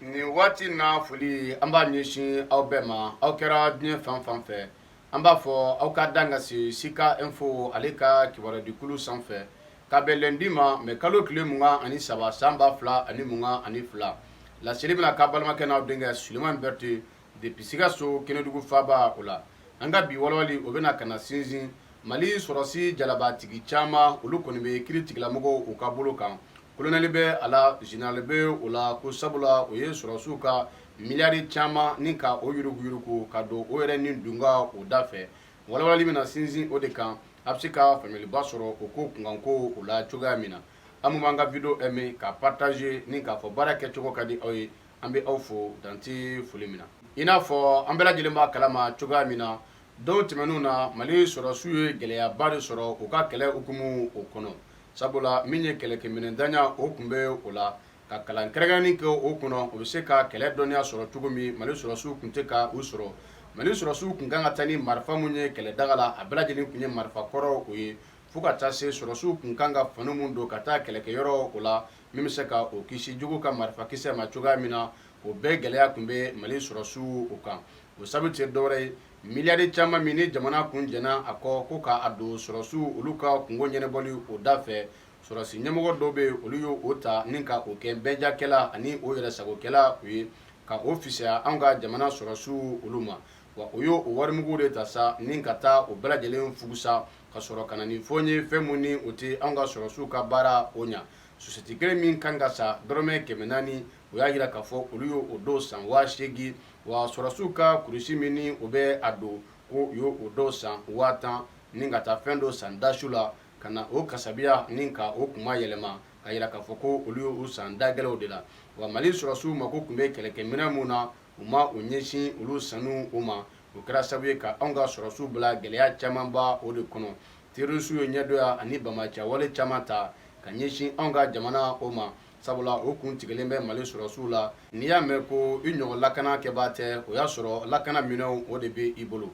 nin waati na foli an b'a ɲɛsin aw bɛɛ ma aw kɛra diɲɛ fan fan fɛ an b'a fɔ aw ka dan ka se sika info ale ka kibaruyadikulu sanfɛ ka bɛn lundi ma mai kalo tile mugan ani saba san ba fila ani mugan ani fila laseli bɛna k'aw balimakɛ n'aw denkɛ Sulemani Berete depuis Sikaso Kɛnɛdugu faaba o la an ka bi walawalali o bɛna ka na sinsin Mali sɔrɔsi jalabatigi caman olu kɔni bɛ kiiritigɛla mɔgɔw u ka bolo kan kolonɛli bɛ a la général bɛ o la ko sabula o ye sɔrɔsiw ka miliyari caman ni ka o yuruguyurugu ka don o yɛrɛ ni dunun也o da fɛ walawalali bɛna na sinsin o de kan a bɛ se ka faamuyaliba sɔrɔ o ko kunkanko o la cogoya min na aw b'an ka video aimer ka partager ni k'a fɔ baara kɛcogo ka di aw ye an bɛ aw fo dan tɛ foli min na i n'a fɔ an bɛɛ lajɛlen b'a kalama cogoya min na Don tɛmɛnenw na mali sɔrɔsiw ye gɛlɛyaba de sɔrɔ u ka kɛlɛ hukumu o kɔnɔ sabula min ye kɛlɛkɛminɛntanya o tun bɛ o la ka kalan kɛrɛnkɛrɛnnen kɛ o kɔnɔ u bɛ se ka kɛlɛ dɔnniya sɔrɔ cogo min mali sɔrɔsiw tun tɛ ka u sɔrɔ mali sɔrɔsiw tun kan ka taa ni marifa minnu ye kɛlɛ daga la a bɛɛ lajɛlen tun ye marifa kɔrɔ o ye fo ka taa se sɔrɔsiw tun kan ka fani minnu don ka taa kɛlɛkɛyɔrɔ o la min bɛ se ka o kisi jugu ka marifa kisɛ ma cogoya min na o bɛɛ gɛlɛya tun bɛ mali sɔrɔsiw o kan o sabu tɛ dɔwɛrɛ ye miliyari caman min ni jamana kun jɛnna a kɔ ko k'a don sɔrɔsiw olu ka kunko ɲɛnabɔli o da fɛ sɔrɔsi ɲɛmɔgɔ dɔw bɛ olu y' o ta ni ka o kɛ bɛnjakɛla ani o yɛrɛ sagokɛla u ye ka o fisaya an ka jamana sɔrɔsiw olu ma wa o y' o warimugu de ta sa ni ka taa o bɛɛ lajɛlen fugusa ka sɔrɔ ka na ni fɔ n ye fɛn minnu ni o tɛ anw ka sɔrɔsiw ka baara o ɲɛ sosɛti kelen min kan ka san dɔrɔmɛ kɛmɛ naani o y'a jira k'a fɔ olu y'o dɔw san waa seegin wa sɔrɔsiw ka kurusi min ni o bɛ a don ko u y'o dɔw san waa tan ni ka taa fɛn dɔ san dasu la ka na o kasabiya ni ka o kuma yɛlɛma k'a jira k'a fɔ ko olu y'o san dagɛlɛnw de la wa mali sɔrɔsiw mako tun bɛ kɛlɛkɛminɛn minnu na u ma u ɲɛsin olu sanni o ma o kɛra sabu ye ka anw ka sɔrɔsiw bila gɛlɛya camanba o de kɔnɔ terroristew ye ɲɛdoya ani bamacɛ wale caman ta ka ɲɛsin anw ka jamana o ma sabula o kun tigɛlen bɛ Mali sɔrɔsiw la n'i y'a mɛn ko i ɲɔgɔn lakana kɛbaa tɛ o y'a sɔrɔ lakana minɛnw o de bɛ i bolo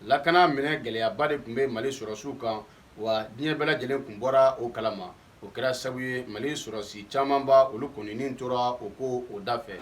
lakana minɛn gɛlɛyaba de tun bɛ Mali sɔrɔsiw kan wa diɲɛ bɛɛ lajɛlen tun bɔra o kalama o kɛra sabu ye mali sɔrɔsi camanba olu kɔni tora o ko o da fɛ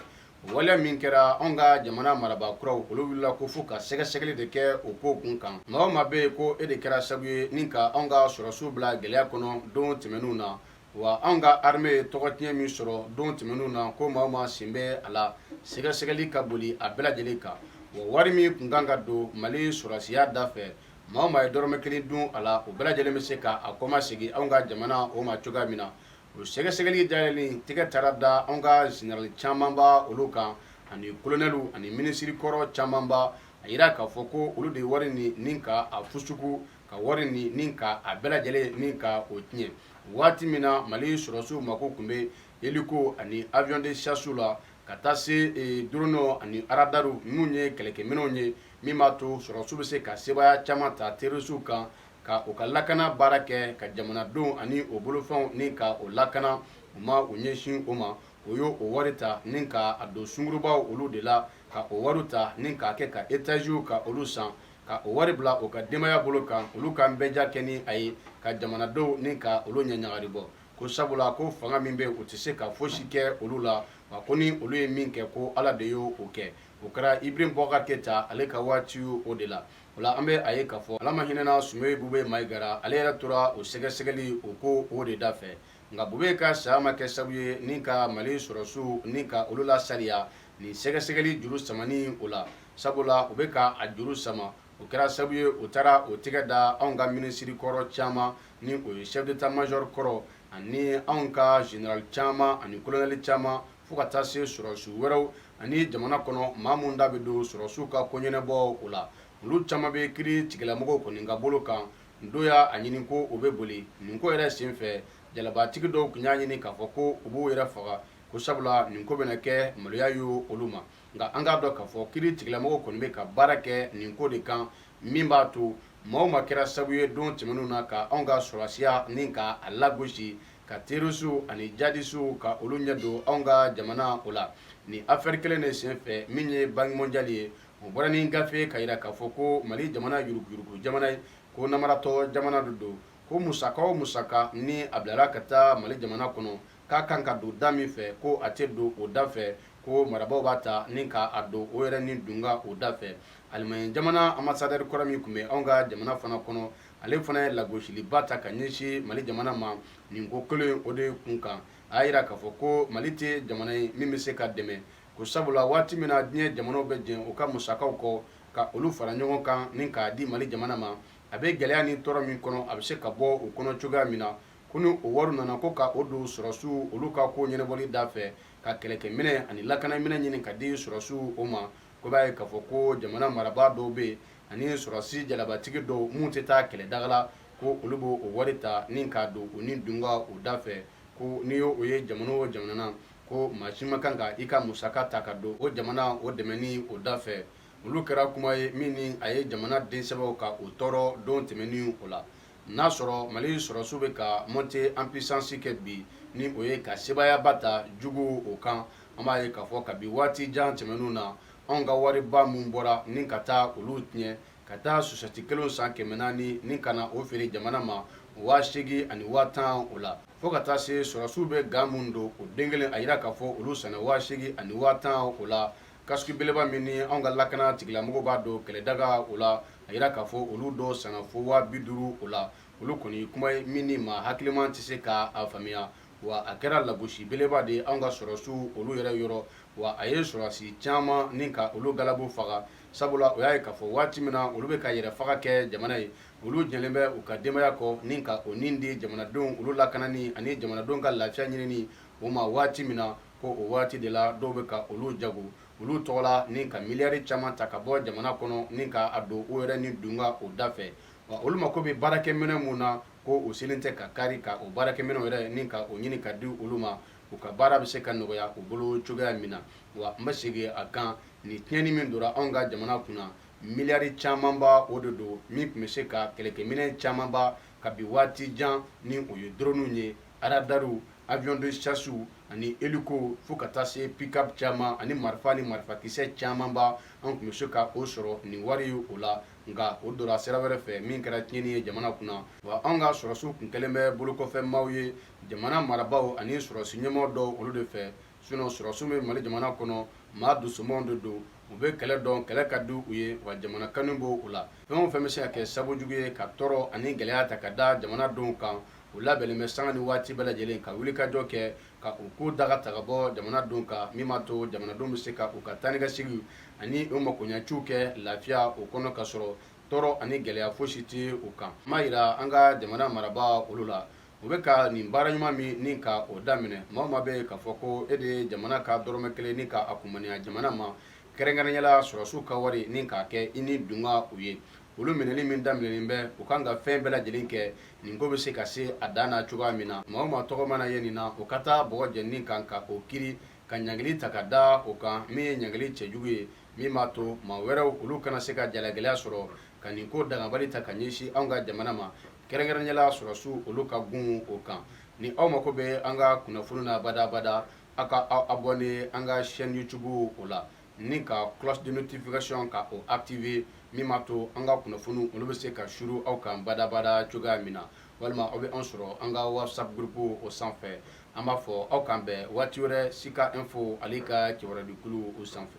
waleya min kɛra an ka jamana marabaa kuraw olu wulila ko fo ka sɛgɛsɛgɛli de kɛ o ko kun kan maa o maa bɛ yen ko e de kɛra sabu ye ni ka an ka sɔrɔsiw bila gɛlɛya kɔnɔ don tɛmɛnenw na wa an ka armée ye tɔgɔ tiɲɛ min sɔrɔ don tɛmɛnen na ko maa o maa sen bɛ a la sɛgɛsɛgɛli ka boli a bɛɛ lajɛlen kan wa wari min tun kan ka don mali sɔrɔsiya da fɛ Maa o maa ye dɔrɔmɛ kelen dun a la o bɛɛ lajɛlen bɛ se ka a kɔmasegin anw ka jamana o ma cogoya min na o sɛgɛsɛgɛli dayɛlɛlen tɛgɛ taara da anw ka zenerali camanba olu kan ani kolonɛli ani minisiri kɔrɔ camanba a jira k'a fɔ ko olu de wari nin ni ka a fusuku ka wari nin ni ka a bɛɛ lajɛlen ni ka o tiɲɛ waati min na mali sɔrɔsiw mako tun bɛ eliko ani avion de chasse la ka taa se dɔrɔniw ani aradariw minnu ye kɛlɛkɛminɛnw ye min b'a to sɔrɔsiw bɛ se ka sebaaya caman ta terorisiw kan ka u ka lakana baara kɛ ka jamanadenw ani u bolofɛnw ni ka u lakana u ma u ɲɛsin o ma u y'o wari ta ni ka a don sungurubaw olu de la ka o wari ta ni k'a kɛ ka etaziw ka olu san ka o wari bila u ka denbaya bolo kan olu ka nbɛja kɛ ni a ye ka jamanadenw ni ka olu ɲɛɲagari bɔ ko sabula ko fanga min bɛ u tɛ se ka fosi kɛ olu la wa ko ni olu ye min kɛ ko ala de y'o kɛ o kɛra Iburahimu Bubakari Keyita ale ka waati o de la o la an bɛ a ye k'a fɔ ala ma hinɛna Sumeyilu Bubɛ Mayiga ra ale yɛrɛ tora o sɛgɛsɛgɛli o ko o de da fɛ nka Bubɛ ka saya ma kɛ sababu ye ni ka mali sɔrɔsiw ni ka olu la sariya nin sɛgɛsɛgɛli juru samani o la sabula u bɛ ka a juru sama o kɛra sababu ye u taara o tɛgɛ da anw ka minisiri kɔrɔ caman ni o ye chef d'état-major kɔrɔ ani anw ka zenerali caman ani kolonɛli caman fo ka taa se sɔrɔsiw wɛrɛw ani jamana kɔnɔ maa minnu da bɛ don sɔrɔsiw ka koɲɛnabɔ o la olu caman bɛ kiiritigɛlamɔgɔw kɔni ka bolo kan dɔw y'a ɲini ko u bɛ boli nin ko yɛrɛ senfɛ jalabatigi dɔw tun y'a ɲini k'a fɔ ko u b'u yɛrɛ faga ko sabula nin ko bɛna kɛ maloya ye olu ma nka an k'a dɔn k'a fɔ kiiritigɛlamɔgɔw kɔni bɛ ka baara kɛ nin ko de kan min b'a to maa o maa kɛra sababu ye don tɛmɛnenw na ka anw ka sɔrɔsiya ni ka a lagosi ka terorisiw ani jihadisiw ka olu ɲɛ don anw ka jamana o la nin afɛri kelen de senfɛ min ye banki mɔnjali ye o bɔra ni gafe ka jira k'a fɔ ko mali jamana yuruguurugu jamana ye ko namaratɔ jamana de don ko musaka o musaka ni a bilara ka taa mali jamana kɔnɔ k'a kan ka don da min fɛ ko a tɛ don o da fɛ ko marabaaw b'a ta ni k'a don o yɛrɛ nidungo o da fɛ Alimaɲi jamana anbasadɛri kɔrɔ min tun bɛ anw ka jamana fana kɔnɔ ale fana ye lagosiliba ta ka ɲɛsin mali jamana ma nin ko kelen o de kun kan a y'a jira k'a fɔ ko mali tɛ jamana ye min bɛ se ka dɛmɛ ko sabula waati min na diɲɛ jamanaw bɛ jɛn u ka musakaw kɔ ka olu fara ɲɔgɔn kan ni k'a di mali jamana ma a bɛ gɛlɛya ni tɔɔrɔ min kɔnɔ a bɛ se ka bɔ o kɔnɔ cogoya min na ko ni o wari nana ko ka o don sɔrɔsiw olu ka ko ɲɛnabɔli da fɛ ka kɛlɛkɛminɛ ani lakanaminɛ ɲini ka di sɔrɔsiw o ma ko b'a ye k'a fɔ ko jamana marabaa dɔw bɛ yen ani sɔrɔsi jalabatigi dɔw minnu tɛ taa kɛlɛdaga la ko olu b'o o wari ta ni k'a don u ni dunga u da fɛ ko n'i y'o o ye jamana o jamana na ko maa si ma kan ka i ka musaka ta ka don o jamana o dɛmɛni o da fɛ olu kɛra kuma ye min ni a ye jamanaden sɛbɛw ka o tɔɔrɔ don tɛmɛnen o la n'a sɔrɔ mali sɔrɔsiw bɛ ka monter en puissance kɛ bi, ni o ye ka sebaayaba ta juguw o kan, an b'a ye k'a fɔ kabi waati jan tɛmɛnw na, anw ka wariba minnu bɔra ni ka taa olu tiɲɛ, ka taa chaussette kelenw san kɛmɛ naani ni ka na o feere jamana ma waa seegin ani waa tan o la, fo ka taa se sɔrɔsiw bɛ gant minnu don o den kelen, a yira k'a fɔ olu sanna waa seegin ani waa tan o la. Casque beleba min ni an ka lakana tigilamɔgɔw b'a don kɛlɛdaga o la a yira k'a fɔ olu dɔ sanna fo waa bi duuru o la olu kɔni kuma ye min ni maa hakiliman tɛ se k'a faamuya wa a kɛra lagosi beleba de ye an ka sɔrɔsiw olu yɛrɛ yɔrɔ wa a ye sɔrɔsi caman ni ka olu galabu faga sabula o y'a ye k'a fɔ waati min na olu bɛ ka yɛrɛ faga kɛ jamana ye olu jɛlen bɛ u ka denbaya kɔ ni ka o ni di jamanadenw olu lakanani ani jamanadenw ka lafiya ɲinini o ma waati min na ko o waati de la dɔw bɛ ka olu jago olu tɔgɔ la ni ka miliyari caman ta ka bɔ jamana kɔnɔ ni k'a don o yɛrɛ ni dunga o da fɛ wa olu mako bɛ baarakɛminɛ min na ko u selen tɛ ka kari ka o baarakɛminɛw yɛrɛ ni ka o ɲini ka di olu ma u ka baara bɛ se ka nɔgɔya u bolo cogoya min na wa n bɛ segin a kan nin tiɲɛni min donna anw ka jamana kun na miliyari camanba o de don min tun bɛ se ka kɛlɛkɛminɛ camanba kabi waati jan ni o ye dɔrɔnw ye Radarw avion de chassew ani hélicow fo ka taa se pick-up caman ani marifa ni marifakisɛ camanba an tun bɛ se ka o sɔrɔ nin wari ye o la nka o donna sira wɛrɛ fɛ min kɛra tiɲɛni ye jamana kunna wa an ka sɔrɔsiw tun kɛlen bɛ bolokɔfɛmaaw ye jamana marabaaw ani sɔrɔsi ɲɛmɔgɔ dɔw olu de fɛ sinon sɔrɔsiw bɛ mali jamana kɔnɔ maa dusumanw de don u bɛ kɛlɛ dɔn kɛlɛ ka di u ye wa jamana kanu b'u la fɛn o fɛn bɛ se ka kɛ sababu jugu ye ka tɔɔrɔ ani gɛlɛya ta ka da jamanadenw kan u labɛnnen bɛ sanga ni waati bɛɛ lajɛlen ka wulikajɔ kɛ ka u ko daga ta ka bɔ jamanadenw kan min b'a to jamanadenw bɛ se ka u ka taanikaseginw ani u makoɲɛciw kɛ lafiya o kɔnɔ ka sɔrɔ tɔɔrɔ ani gɛlɛya fosi tɛ u kan n b'a yira an ka jamana marabaa olu la u bɛ ka nin baara ɲuman min ni ka o daminɛ maa o maa bɛ yen k'a fɔ ko e de ye jamana ka dɔrɔmɛ kelen ni ka a kumaniya jamana ma kɛrɛnkɛrɛnyala sɔrɔsiw ka wari ni k'a kɛ i ni dunga u ye olu minɛli min daminɛlen bɛ u kan ka fɛn bɛɛ lajɛlen kɛ nin ko bɛ se ka se a dan na cogoya min na maa o maa tɔgɔ mana ye nin na o ka taa bɔgɔ jeninen kan ka o kiri ka ɲangili ta ka da o kan min ye ɲangili cɛjugu ye min b'a to maa wɛrɛw olu kana se ka jalagɛlɛya sɔrɔ ka nin ko dangabali ta ka ɲɛsin anw ka jamana ma kɛrɛnkɛrɛnyala sɔrɔsiw olu ka gun o kan ni aw mako bɛ an ka kunnafoni na badabada a ka aw abonné an ka chaîne YouTube o la ni ka cloche de notification ka o activer min b'a to an ka kunnafoni olu bɛ se ka suuru aw kan badabada cogoya min na walima aw bɛ an sɔrɔ an ka WhatsApp groupe o sanfɛ an b'a fɔ aw k'an bɛn waati wɛrɛ Sika Info ale ka kibaruya jɛkulu o sanfɛ